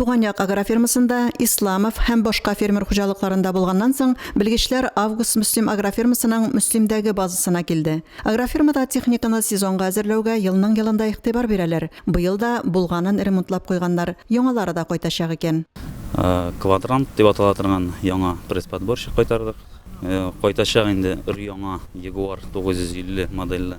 Туган як агрофирмасында, Исламов һәм башка фермер хуҗалыкларында булганнан соң, белгечләр Август Мөслим агрофирмасының Мөслимдәге базасына килде. Агрофирмада техниканы сезонга әзерләүгә елның-елында игътибар бирәләр. Быел да булганын ремонтлап куйганнар, яңалары да кайтачак икән. Квадрант дип атала торган яңа пресс-подборщик кайтардык. Кайтачак инде өр-яңа Ягуар 950 модельле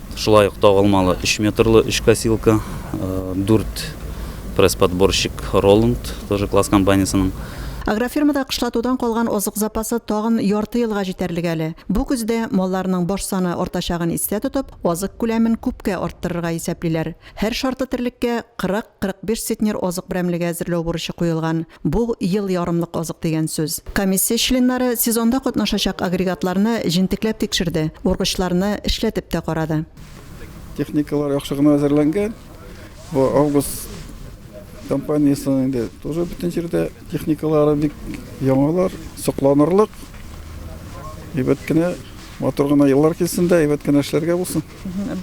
Шулай ук тагылмалы өч метрлы өч косилка, дүрт пресс-подборщик Роланд, тоже класс компаниясенең. Агрофирмада кышлатудан калган азык запасы тагын ярты елга җитәрлек әле. Бу көздә, малларның баш саны артачагын истә тотып, азык күләмен күпкә арттырырга исәплиләр. Һәр шартлы терлеккә 40-45 центнер азык берәмлеге әзерләү бурычы куелган. Бу, ел ярымлык азык дигән сүз. Комиссия членнары сезонда катнашачак агрегатларны җентекләп тикшерде, ургычларны эшләтеп тә карады. Техникалар яхшы гына әзерләнгән. Бу Август компаниясенең инде тоже бөтен җирдә техникалары бик яңалар, сокланырлык. Әйбәт кенә матур гына еллар килсен дә, әйбәт кенә эшләргә булсын.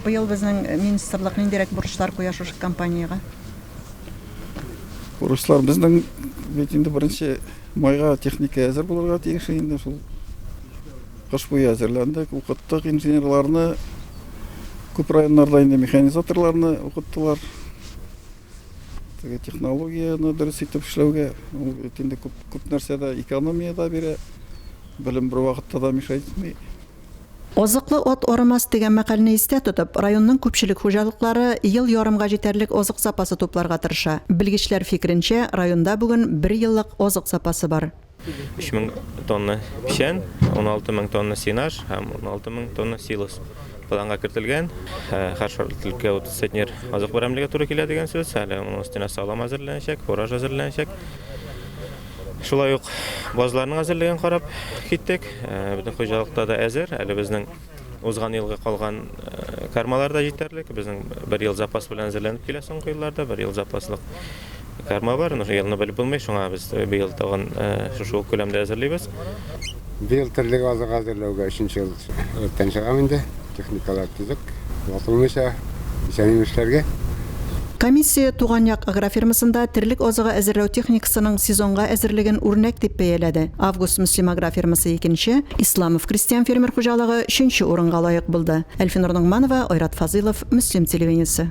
Быел безнең министрлык ниндирәк бурычлар куя шушы компаниягә? Руслар безнең бит инде беренче майга техника әзер булырга тиеш инде шул. Кыш буе әзерләндек, укыттык инженерларны. Күп районнарда инде механизаторларны укыттылар. Теге технологияне дөрес итеп эшләүгә, ул бит инде күп, күп нәрсәдә экономия да бирә. Белем бер вакытта да мешайтмый. Азыклы ат арымас дигән мәкальне истә тотып, районның күпчелек хуҗалыклары ел ярымга җитәрлек азык запасы тупларга тырыша. Белгечләр фикеренчә, районда бүген бер еллык азык запасы бар. Өч мең тонна печән, уналты мең тонна сенаж һәм уналты мең тонна силос планга кертелгән. Һәр шартливкә утыз центнер азык берәмлеге туры килә дигән сүз. Әле аның өстенә салам әзерләнәчәк, фураж әзерләнәчәк. Шулай ук базларның әзерлеген карап киттек. Э, безнең хуҗалыкта да әзер. Әле безнең узган елгы калган э, кармалар да җитәрлек. Безнең бер ел запас белән әзерләнеп килә соңгы елларда, бер ел запаслык карма бар. Аны елны белеп булмый, шуңа без быел тагын э, шушы ук күләмдә әзерлибез. Быел терлек азык әзерләүгә өченче ел рәттән чыгам инде. Техникалар төзек, ватылмыйча, исән-имешләргә. Комиссия Туган як агрофирмасында терлек азыгы әзерләү техникасының сезонга әзерлеген үрнәк дип бәяләде. Август Мөслим агрофирмасы икенче, Исламов крестьян-фермер хуҗалыгы өченче урынга лаек булды. Әлфинур Ногманова, Айрат Фазыйлов, Мөслим телевидениесе.